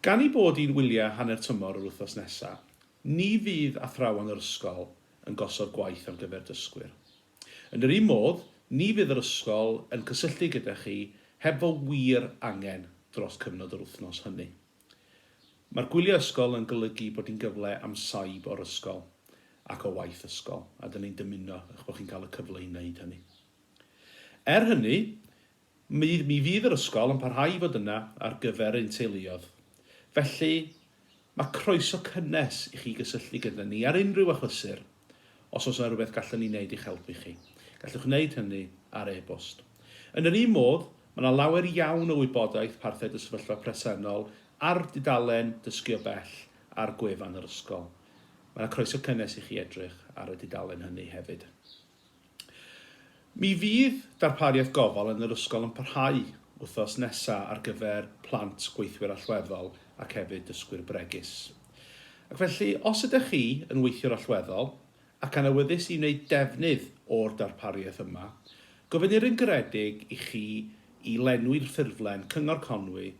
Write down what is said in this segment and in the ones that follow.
Gan ei bod hi'n wyliau hanner tymor yr wythnos nesaf, ni fydd athrawon yr ysgol yn gosod gwaith ar gyfer dysgwyr. Yn yr un modd, ni fydd yr ysgol yn cysylltu gyda chi heb fo wir angen dros cyfnod yr wythnos hynny. Mae'r gwyliau ysgol yn golygu bod hi'n gyfle am saib o'r ysgol ac o waith ysgol, a 'dyn ni'n dymuno eich bod chi'n cael y cyfle i wneud hynny. Er hynny, Mi mi fydd yr ysgol yn parhau i fod yna ar gyfer ein teuluoedd. Felly, mae croeso cynnes i chi gysylltu gyda ni ar unrhyw achlysur os oes yna rhywbeth gallwn ni wneud i'ch helpu chi. Gallwch wneud hynny ar e-bost. Yn yr un modd, mae yna lawer iawn o wybodaeth parthed y sefyllfa presennol ar dudalen Dysgu o Bell ar gwefan yr ysgol. Mae yna croeso cynnes i chi edrych ar y dudalen hynny hefyd. Mi fydd darpariaeth gofal yn yr ysgol yn parhau wythnos nesa ar gyfer plant gweithwyr allweddol ac hefyd dysgwyr bregus. Ac felly, os ydych chi yn weithiwr allweddol ac yn awyddus i wneud defnydd o'r darpariaeth yma, gofynnir yn garedig i chi i lenwi'r ffurflen Cyngor Conwy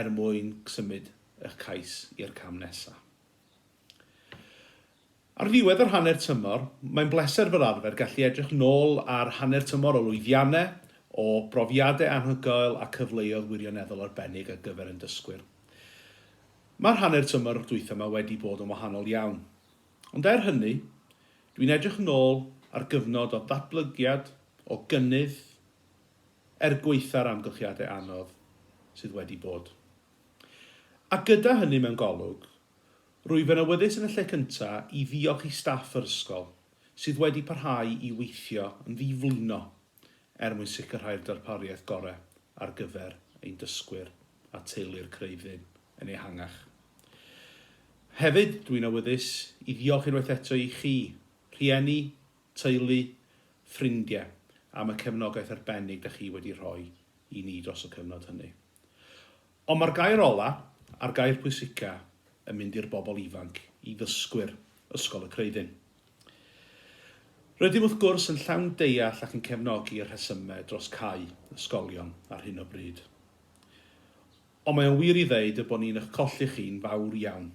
er mwyn symud eich cais i'r cam nesa. Ar ddiwedd yr hanner tymor, mae'n bleser fel arfer gallu edrych nôl ar hanner tymor o lwyddiannau, o brofiadau anhygoel a cyfleoedd wirioneddol arbennig ar gyfer ein dysgwyr. Mae'r hanner tymor dwytha ma wedi bod yn wahanol iawn. Ond er hynny, dwi'n edrych nôl ar gyfnod o ddatblygiad, o gynnydd, er gwaetha'r amgylchiadau anodd sydd wedi bod. A gyda hynny mewn golwg, rwyf yn awyddus yn y lle cyntaf i ddiolch i staff yr ysgol, sydd wedi parhau i weithio yn ddi-flino er mwyn sicrhau'r darpariaeth gorau ar gyfer ein dysgwyr a teulu'r Creuddyn yn ehangach. Hefyd, dw i'n awyddus i ddiolch unwaith eto i chi, rhieni, teulu, ffrindiau, am y cefnogaeth arbennig da chi wedi rhoi i ni dros y cyfnod hynny. Ond mae'r gair ola, a'r gair pwysica, yn mynd i'r bobl ifanc, i ddysgwyr Ysgol y Creuddyn. Rydym wrth gwrs yn llawn deall ac yn cefnogi y rhesyme dros cau ysgolion ar hyn o bryd. Ond mae o'n wir i ddeud y bod ni'n ych colli chi'n fawr iawn.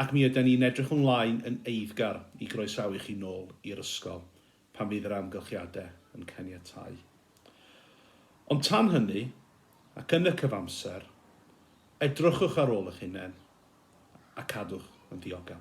Ac mi yden ni'n edrych ymlaen yn eiddgar i groesawu chi nôl i'r ysgol pan fydd yr amgylchiadau yn caniatáu. Ond tan hynny, ac yn y cyfamser, edrychwch ar ôl eich hunain a cadwch yn ddiogel.